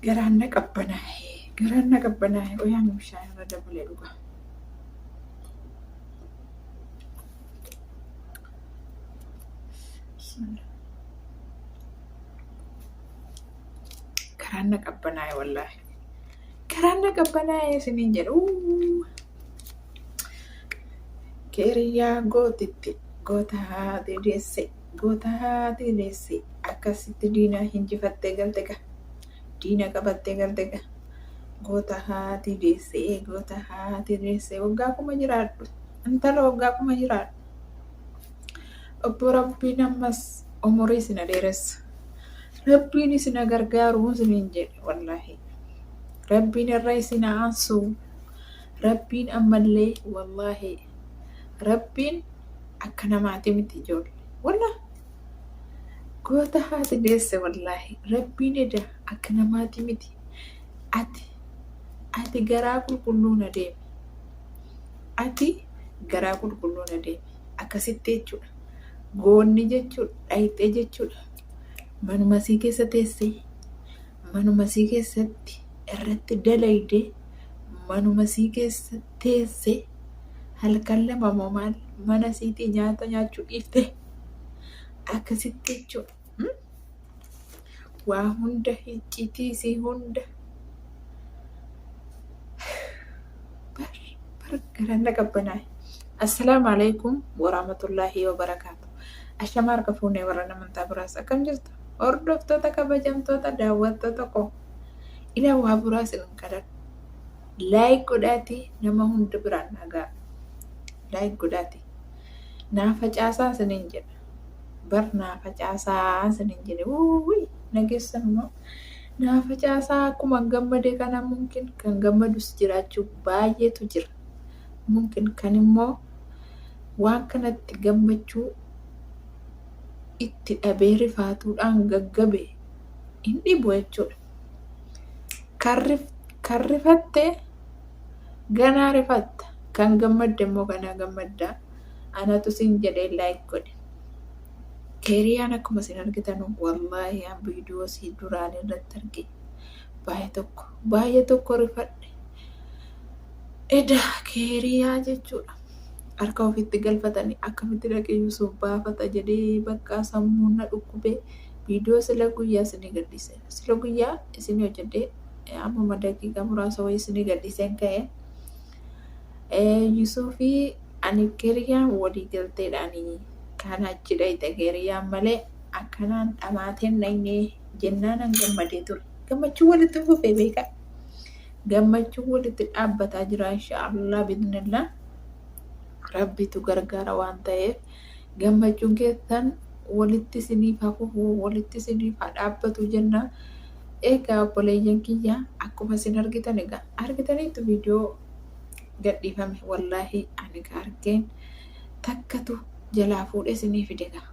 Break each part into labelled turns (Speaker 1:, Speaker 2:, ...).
Speaker 1: Garaan na qabbanaa'e. Garaan na qabbanaa'e. Qoyaan bishaan irra dabalee dhuga. Garaan na qabbanaa'e wallaahi. Garaan na qabbanaa'e isiniin jedhu. Keeriyyaa gootitti gootaa deesse. Wbo taate deesse akkasitti diina hinjifattee galte gaa diina qabattee galte gaa goota haati deesse goota haati deesse waggaa kuma jiraadhu intala waggaa kuma jiraadhu obbo rabbiin ammas umurii sina dheeressu rabbiin isina gargaaru isiniin jedhe wallaahi rabbiin irra isina aansu rabbiin ammallee wallaahi rabbiin akka namaati miti ijoolle wallah goota haati deesse wallaahi rabbiin eda akka namaati miti ati ati garaa qulqulluun adeemi ati garaa qulqulluun adeemi akkasitti jechuudha goonni jechuudha dhayxee jechuudha manuma sii keessa teessee manuma sii keessatti irratti dalaydee manuma sii keessatti teesse halkan lama moo maal mana siitii nyaata nyaachuu dhiifte akkasitti jechuu hmm? waa hunda hiccitii si hunda bar bar garaan na qabbanaa'e assalaamu alaikum waraamatullaahi wabarakaatu ashamaa harka fuunee warra namantaa biraas akkam jirtu hordoftoota kabajamtoota daawwattoota koo ila waa buraa sin kadhadhu Like godhaati nama hunda biraan dhagaa. Like godhaati. Naa facaasaa isiniin jedha. Bar naa facaasaa isiniin jedhe. Wuuwii nageessan immoo. Naa facaasaa akkuma gammade kana mumkin kan gammadus jiraachuu baay'eetu jira. Mumkin kan immoo waan kanatti gammachuu itti dhabee rifaatuudhaan gaggabe hin dhibu jechuudha. Kan, rif, kan rifatte ganaa rifatta. Kan gammadde immoo ganaa gammadda. Anatu sin jedhee like godhe. Keeriyaan akkuma isin argitan wallaahi an viidiyoo si duraan irratti arge baay'ee tokko baay'ee tokko rifadhe. Eda keeriyaa jechuudha. Harka ofitti galfatanii akkamitti dhaqeeyyuu sun baafata jedhee bakka sammuun na dhukkubee. Viidiyoo sila guyyaa isinii gadhiise. Sila guyyaa isinii hojjedhee eh, ammuma daqiiqaa muraasa wayii isinii gadhiiseen ka'e. Eh, Yusuufi ani Keeriyaan walii galteedhaani kan achi dhayxe Keeriyaan malee akkanaan dhamaateen dhayne jennaanan gammadee ture. Gammachuun walitti fufee beekaa. Gammachuun walitti dhaabbataa jira inshaallah bidnillah. Rabbitu gargaara waan ta'eef. Gammachuun keessan walitti isiniif haa fufu, walitti isiniif haa dhaabbatu jenna. Egaa obboleeyyan kiyya akkuma isin argitan egaa argitaniittu viidiyoo gadhiifame wallaahi ani ka argeen takkatu jalaa fuudhee isinii fide egaa.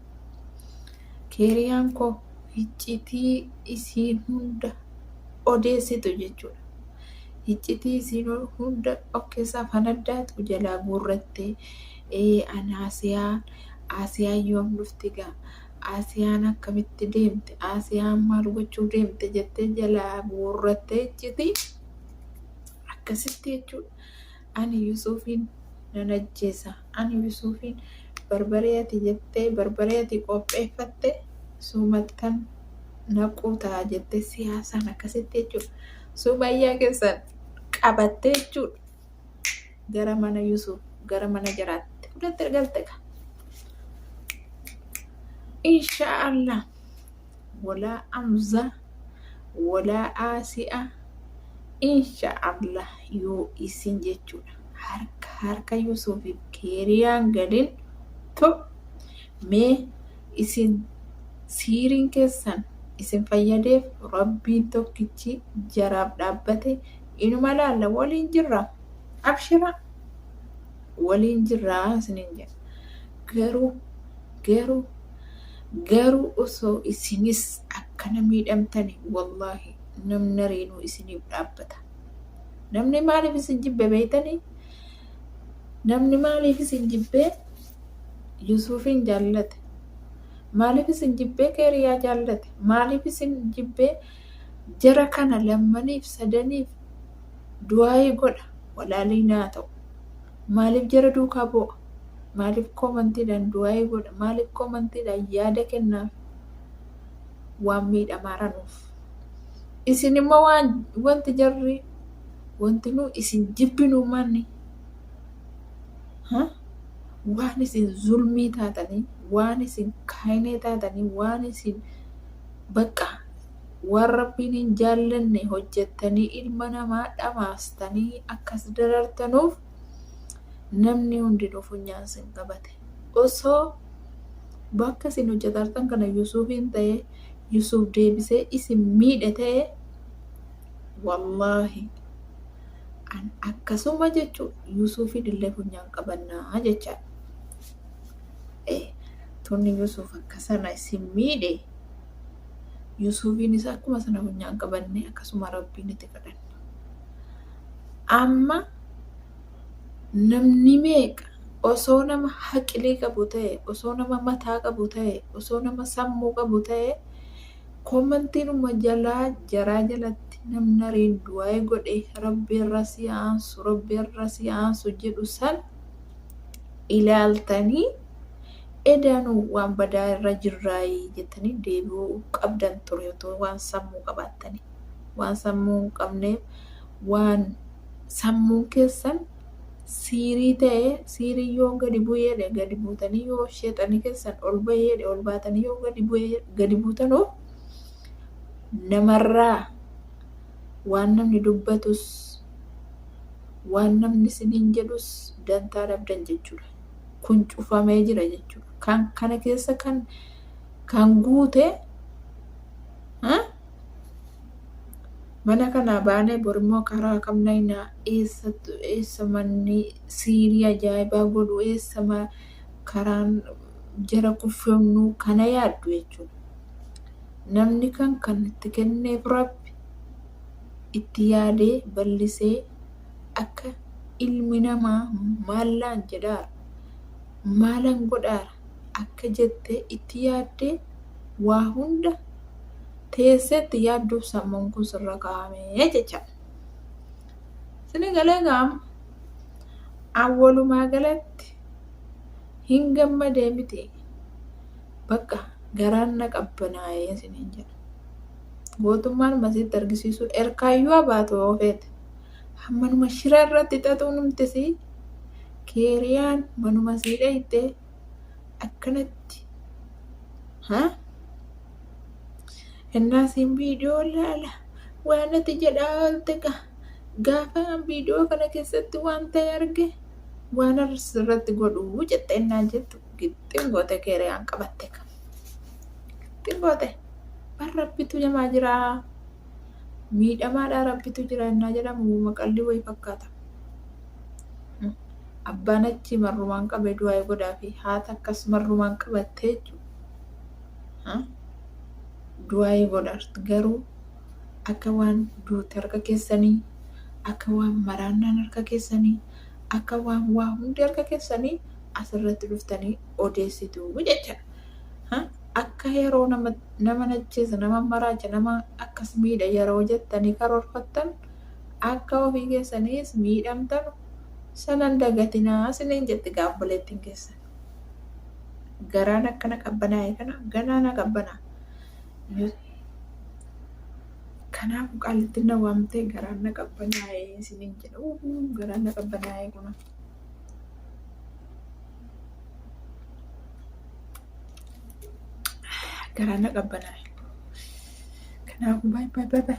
Speaker 1: Keeriyaan koo hiccitii isiin hunda odeessitu jechuudha. Hiccitii isiin hunda of keessaa fanaddaatu jalaa guurrattee ee an Aasiyaa Aasiyaan yoom dhufti gaa Aasiyaan akkamitti deemte Aasiyaan maal gochuuf deemte jettee jalaa guurrattee icciti akkasitti jechuudha ani Yusuufiin nan ajjeesa ani Yusuufiin barbaree ati jettee barbaree ati qopheeffatte suumattan naquu ta'a jettee siyaasaan akkasitti jechuudha sumayyaa keessan qabattee jechuudha. gara mana Yusuf gara mana jaraatti fudhatte galte ka insha Allah walaa amza walaa aasi'a insha Allah yoo isin jechuudha harka harka Yusufiif keeriyaan galin to mee isin siiriin keessan isin fayyadeef rabbiin tokkichi jaraaf dhaabbate inuma laalla waliin jirra abshira waliin jirra isinin jedha garuu garuu garuu osoo isinis akkana miidhamtani wallaahi namni ariinuu isiniif dhaabbata namni maaliif isin jibbe beeytani namni maaliif isin jibbee yusuufiin jaallate maaliif isin jibbee keeriyaa jaallate maaliif isin jibbee Jara kana lammaniif sadaniif du'aa'ii godha walaalii naa ta'u. Maaliif jara duukaa boo'a? Maaliif koomantiidhaan du'aa'ii godha? Maaliif koomantiidhaan yaada kennaaf? Waan miidhamaa ranuuf. Isin immoo waan wanti jarri wanti nu isin jibbinu manni waan isin zulmii taatanii waan isin kaayinee taatanii waan isin Baqqa! Waan Rabbiin hin jaallanne hojjattanii ilma namaa dhamaastanii akkas darartanuuf namni hundinuu funyaan sin qabate. Osoo bakka isin hojjatartan kana Yusuufiin ta'e Yusuuf deebisee isin miidhe ta'e wallaahi an akkasuma jechuu Yusuufiin illee funyaan qabannaa jechaadha. tunni Yusuuf akka sana isin miidhe Yusuufiinis akkuma sana funyaan qabanne akkasuma rabbiin itti kadhanna. Amma namni meeqa osoo nama haqilii qabu ta'e osoo nama mataa qabu ta'e osoo nama sammuu qabu ta'e koomantiinuma jalaa jaraa jalatti namni ariin du'aa'ee godhe rabbi irra si aansu rabbi irra si aansu jedhu san ilaaltanii edaanu waan badaa irra jirraayi jettanii deebi'uu qabdan ture otoo waan sammuu qabaattanii. Waan sammuu hin qabneef waan sammuun keessan siirii ta'e siirii yoo gadi bu'eedhe gadi buutanii yoo sheexanii keessan ol ba'eedhe ol baatanii yoo gadi bu'ee gadi buutanuuf namarraa waan namni dubbatus waan namni isiniin jedhus dantaa dhabdan jechuudha. Kun cufamee jira jechuudha. Kan kana keessa kan kan guute ha? mana kanaa baanee borimmoo karaa kam naynaa eessa eessa manni siirii ajaa'ibaa godhu eessa ma- karaan jara kuffifnu kana yaaddu jechuudha. Namni kan kan itti kenneef rabbi itti yaadee ballisee akka ilmi namaa maallaan jedhaara, maalan godhaara akka jette itti yaaddee waa hunda teesseetti yaadduuf sammuun kun sirra kaa'amee jechaadha. Sini galee gaama awwalumaa galatti hin gammadee miti bakka garaan na qabbanaa'ee siniin jedha. gootummaan masiitti argisiisuu erkaayyuu abaatu oofeet hammanuma shira irratti xaxuu numtisi keeriyaan manuma sii dhayxee akkanatti ha hennaa siin viidiyoo laala waan ati jedhaa oolte gaa gaafa viidiyoo kana keessatti waan ta'e arge waan irratti godhu jette hennaa jettu gixxiin goote keeriyaan qabatte kan Ittiin boote. Bar rabbitu jamaa jiraa. Miidhamaadhaa rabbitu jira innaa jedhamu woma qalli wayi fakkaata. Abbaan achi marrumaan qabe du'aa godhaafi haati akkas marrumaan qabattee jechuudha. Du'aa godhaarti garuu akka waan duuti harka keessanii akka waan maraannaan harka keessanii akka waan waa hundi harka keessanii asirratti dhuftanii odeessitu jechaadha. Ha? Akka yeroo nama, nama najjeesa, nama maraacha, nama akkas miidha yeroo jettanii karoorfattan akka ofii keessaniis miidhamtanu sana hin dagatinaa isiniin jetti gaa obboleettiin keessan. Garaan akkana qabbanaa'e kana ganaa na qabbanaa. Yoo Kanaaf qaalittiin na waamtee garaan na qabbanaa'e isiniin jedha. Uuu, Garaan na qabbanaa'e kunuun. Garaan na qabbanaa'e. Kanaafuu baay'ee baay'ee baay'ee.